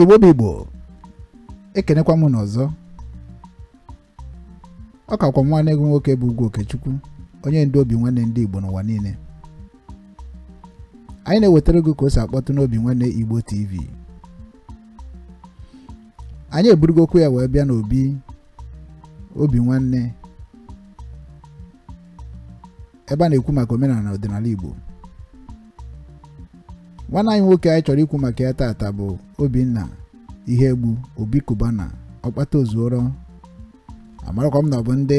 igbo bụ igbo ekenekwa m unu ọzọ ọ kakwa nwanne gị nwoke bụ ugwu okechukwu onye ndu obi nwanne ndị igbo n'ụwa niile anyị na-ewetara gị ka o si akpọtụ n'obi nwanne igbo tv anyị eburugo okwu ya wee bịa n'obi obi nwanne ebe a na-ekwu maka omenala na ọdịnala Igbo nwanne anyị nwoke anyị chọrọ ikwu maka ya taata bụ Obinna Iyiegbu Obi Cubana ọkpata ozuoro amarakwa m na ọ bụ ndị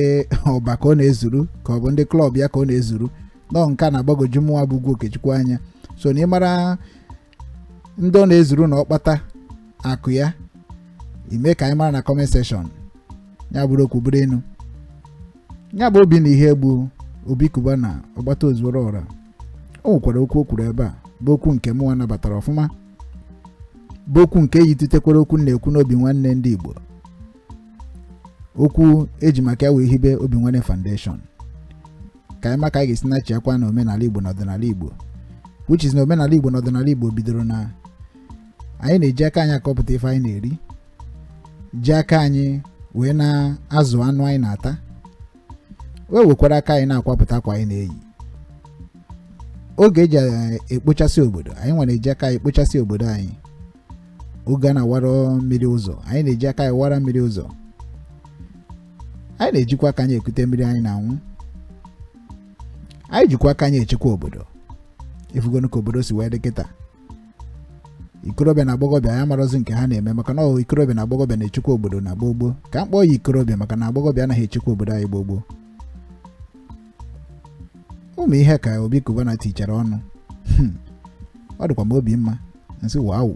ọba ka ọ na-ezuru ka ọ bụ ndị klọb ya ka ọ na-ezuru nọọ nke a na-agbagoju mụnwa bụ ugwu Okechukwu anya so na ị mara ndị ọ na-ezuru na ọkpata akụ ya i mee ka anyị mara na comment section ya bụrụ okwu bụrụ inu ya bụ Obinna Iyiegbu Obi Cubana ọkpata ozuoro ọra o nwekwara okwu o kwuru ebe a bụ okwu nke mụnwa nabatara ọfụma bụ okwu nke yitutekwara okwu a na-ekwu n'obi nwanne ndị Igbo okwu e ji maka ya wee hibe obi nwanne foundation ka anyị ma ka anyị ga-esi na-achịkwa na omenala igbo na ọdịnala igbo which is na omenala igbo na ọdịnala igbo bidoro na anyị na-eji aka anyị akọpụta ife anyị na-eri ji aka anyị wee na-azụ anụ anyị na-ata wee wekwara aka anyị na-akwapụta akwa anyị na-eyi oge e ji eh, ekpochasị obodo anyị nwere eji aka anyị ekpochasị obodo anyị oge a na-awara mmiri ụzọ anyị na-eji aka anyị awara mmiri ụzọ anyị na-ejikwa aka anyị ekute mmiri anyị na-anwụ anyị jikwa aka anyị echekwa obodo ị fụgonụ ka obodo si wee dị kịta ikorobịa na agbọghọbịa amarọzi nke ha na-eme maka na ikorobịa na agbọghọbịa na-echekwa obodo na gboo gboo ka m kpọọ ya ikorobịa maka na agbọghọbịa anaghị echekwa obodo anyị gboo gboo ụmụ ihe ka obi kubana tichara ọnụ hmm. ọ dịkwa m obi mma m sị wow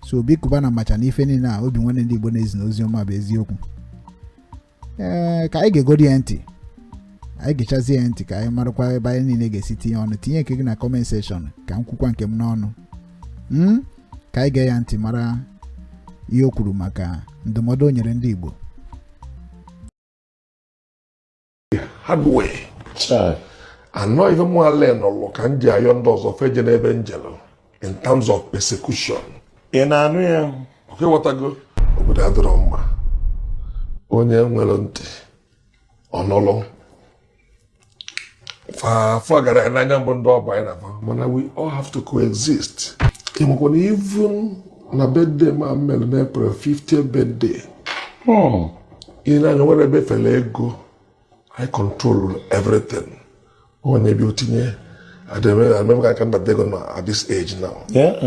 so obi kubana macha na ife niile a obi nwanne ndị igbo na-ezi n'ozi ọma bụ eziokwu ee ka anyị gegodi ya ntị anyị gechazie ya ntị ka anyị marakwa ebe anyị niile ga-esi tinye ọnụ tinye nke gị na kọment sekshọn ka m kwukwa nke m n'ọnụ hmm? ka anyị gee ya ntị mara ihe o kwuru maka ndụmọdụ o nyere ndị Igbo anọ ife mụ ale nọlụ ka m ji ayọ ndị ọzọ fa ejena ebe m jelụ in terms of persecution ị na-anụ ya okay ị ghọtago obodo adịrọ mma onye nwere ntị ọ nụlụ afọ gara ya n'anya mbụ ndị ọba anyị na-aba mana we all have to coexist ị makwa na even na birthday m mere na april 50th birthday ị na-anụ ya nwere ebe efere ego i control everything ọ na-ebi otinye adịmemega aka ndata ego na at this age now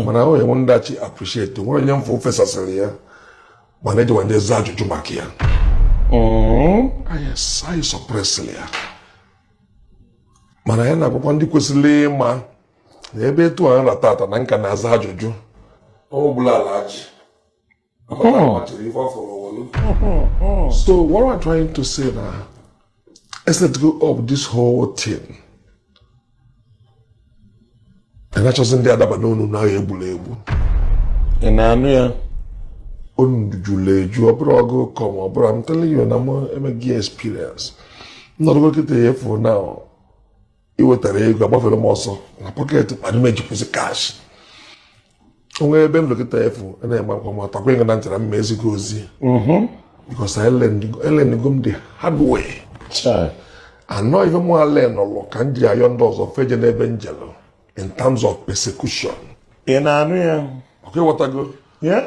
mana ahụ enwe ndachi appreciate nwere onye mfe ofesasịrị ya mana ejiwa ndị aza ajụjụ maka ya anyị suppressịrị ya mana ya na-agwakwa ndị kwesịrị ịma na ebe etu a m ra tata na m ka na-aza ajụjụ ọ bụla ala ji Oh. So what I'm trying to say now is let go of this whole thing. A na-achọzi ndị adaba n'ọnụ na egbula egbu. Ị na-anụ ya? O juru eju ọ bụrụ ọgụ kọm ọ bụrụ I'm telling you na m emeghị experience. M nọrọgo kịta a fụ na iwetara ego agbafere m ọsọ na pocket m adị m ejikwuzi cash. o nwee ebe m nọ kịta fụ na-egba akwa ma takwa ịga na ntara mma ezigbo ozi mhm. because elearngo m the hard way and ọ ife mụa learnụlụ ka m ji ayọ ndị ọzọ fa ejene ebe m jelu in terms of persecution ị na-anụ ya okay ịghọtago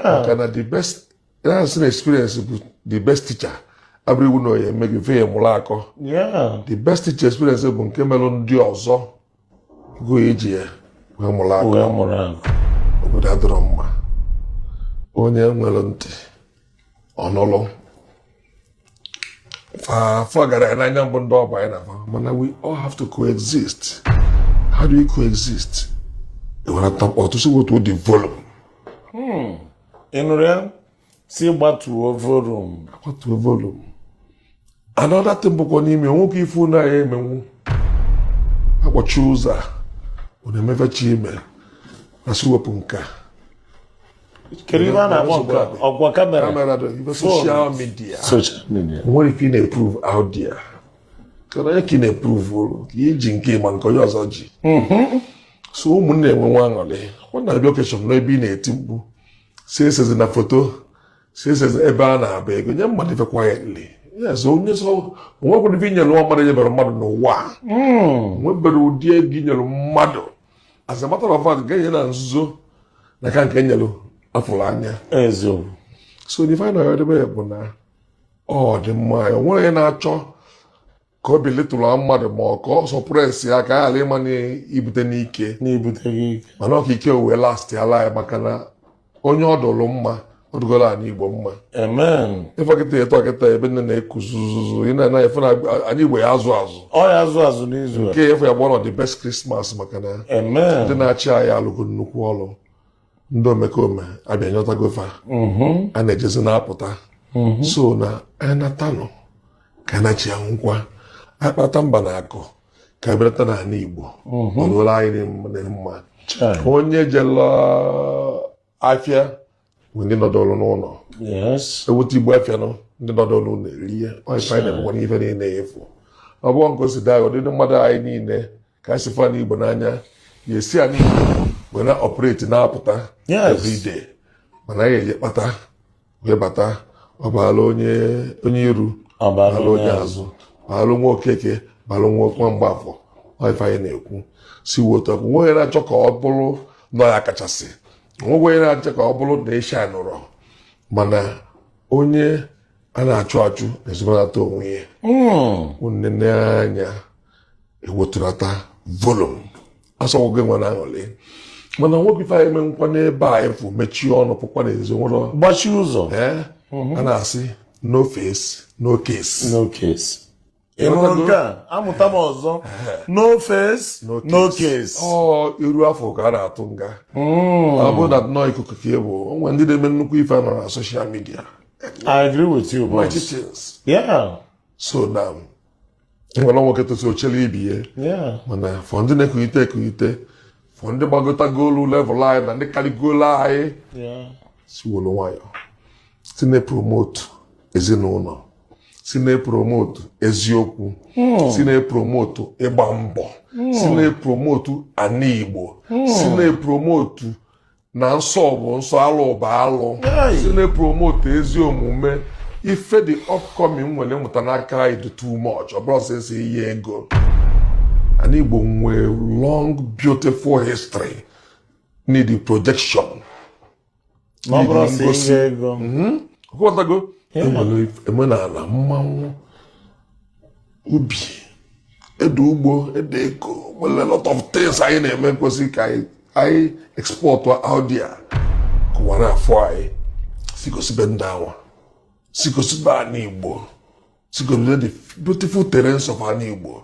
maka na the best na-asị na experience bụ the best teacher abụrọ iwu na ọ ya-eme gị fe ya mụrụ akọ the best teacher experience bụ nke meru ndị ọzọ gụọ iji ya wee mụrụ akọ wee mụrụ akọ obodo adịrọ mma onye nwere ntị ọ nụlụ fa afụkarọ anyị n'anya mbụ ndị ọ bụ anyị na fa mana we all have to coexist how do we coexist ọ otu esi wetuo the volume hmm. ị nụrụ ya sị gbatuo volume gbatuo volume another thing bụkwa n'ime nwoke ife unu ya-emenwu akpọchie ụzọ a unu emebechi ime na sị wepụ nke a kedu ihe a na-akpọ nke a? ọ kwa kamera kamera dị ibe social media social media nwere ife ị na-eprove out there kedu onye ka ị na-eproveụlụ ka iji nke ị ma nke onye ọzọ ji so ụmụnne enwe nwa aṅụrị ọ na-abịa occasion n'ebe ị na-eti mkpu sị esezina foto sị esezi ebe a na-agba ego nye mmadụ ife quietly yes onye so nwekwara ife inyere nwa mmadụ nyebere mmadụ n'ụwa hmm. nwebere ụdị ego inyere mmadụ as a matter of fact nke enye na nzuzo na-aka nke nyere afụrụ anya so the final ọdịbe bụ na ọ dị mma ya onwere onye na-achọ ka ọ belittle mmadụ ma ọ ka ọ suppress ya ka a ghara ịma na ibute n'ike mana ọ ka ike wee lastị ala ya maka na onye ọ dụrụ mma ọ dụgoro anyị igbo mma ị fụ kịta etu a kịta ebe nine na-eku zuzuzu ị mana afịa n'anị igbo ya-azụ azụ ọ ya-azụ azụ n'izu nke afọ a ya-abụ one of the best Christmas maka na ndị na-achị anyị alụgo nnukwu ọrụ ndị omekome abịa nyọtago fa mm-hmm. a na-ejezi na-apụta mm-hmm. so na anatanụ ka na chi anwụkwa akpata mba na akụ ka belata n'ala Igbo mm-hmm. ọlụla anyị mma onye jela afịa ndị nọdụrụ n'ụlọ eweta igbo afịa nọ ndị nọdụrụ n'ụlọ erie ọịfa na-emekwa n'ife niile efu ọ bụrụ nke o si daa ụdịdị mmadụ anyị niile ka anyị si fụ ana igbo n'anya ya si anyị wee na-operate na-apụta everyday mana anyị eje kpata wee bata ọ baala onye iru ọ baala onye azụ baalụ nwa okeke baalụ nwa mgbafọ ife anyị na-ekwu si wotu ọkụ nwa onye na-achọ ka ọ bụrụ na ọ ya kachasị nwa onye na-achọ ka ọ bụrụ na ịsha nụrọ mana onye a na-achụ achụ na-ezobanata onwe ya nne hmm. n'anya ewetulata volum asọgwụ gị nwa na aṅụlị mana nwoke ife anyị mekwa n'ebe a ị fụ mechie ọnụ pụkwa n'ezi were gbachi ụzọ a na-asị no face no case no case ị hụrụ Ịghọtago? nke a amụta m ọzọ no face No no case ọ iru a fụ ka a na-atụ nga ọ bụrụ na nnọọ ikuku ka ị bụ o nwere ndị na-eme nnukwu ife anọrọ na social media I agree with you boss magicians yeah so na nwere nwoke tosie o chere ibe ya yeah mana fụ ndị na-ekulite ekulite fụ ndị gbagotagolu level anyị na ndị karịgolu anyị yeah si wolu nwayọ si na-epromotu ezinụlọ si na-epromotu eziokwu hmm. si na-epromotu ịgba mbọ hmm. si na-epromotu ana igbo hmm. si na-epromotu na nsọ bụ nsọ alụ bụ alụ si na-epromotu ezi omume ife the upcoming nwere mụta n'aka anyị dị too much ọ bụrọ sọ esi iyi ego ana igbo nwere long beautiful history need projection na ọ bụrọ sọ ngosi ihe ego Mhm. Ghọtago? e nwere omenala mmanwụ ubi ede ugbo ede eko nwere a lot of things anyị na-eme kwesịrị ka anyị export out there ka ụwa na-afụ anyị si gosibe ndị anwa si gosibe ana igbo si gosibe the beautiful terrains of ana igbo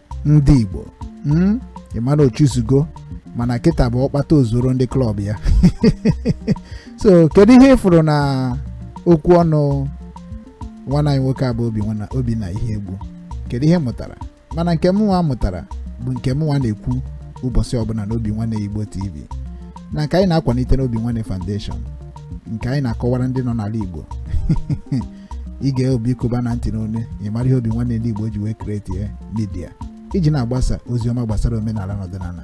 ndị igbo mm, ị ma na ochuzugo mana kịta bụ ọkpata ozuoro ndị club ya so kedu ihe ị fụrụ na okwu ọnụ nwanne anyị nwoke a bụ obinna iyiegbu kedu ihe ị mụtara mana nke mụnwa mụtara bụ nke mụnwa na-ekwu ụbọchị ọbụla na obinwannem igbo tv na nke anyị na-akwalite na obinwannem foundation nke anyị na-akọwara ndị nọ n'ala igbo i gee obi cubana ntị n'ọnụ ị mara ihe obinwannem ndị igbo ji wee kreetie media iji na-agbasa ozi ọma gbasara omenala na ọdịnala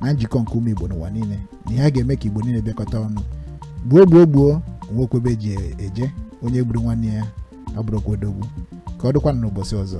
na njikọ nke ụmụ igbo n'ụwa niile na ihe a ga-eme ka igbo niile bịakọta ọnụ gbuo gbuo gbuo enwerọkwa ebe e ji eje onye gburu nwanne ya abụrọkwa odogwu ka ọ dịkwa n'ụbọchị ọzọ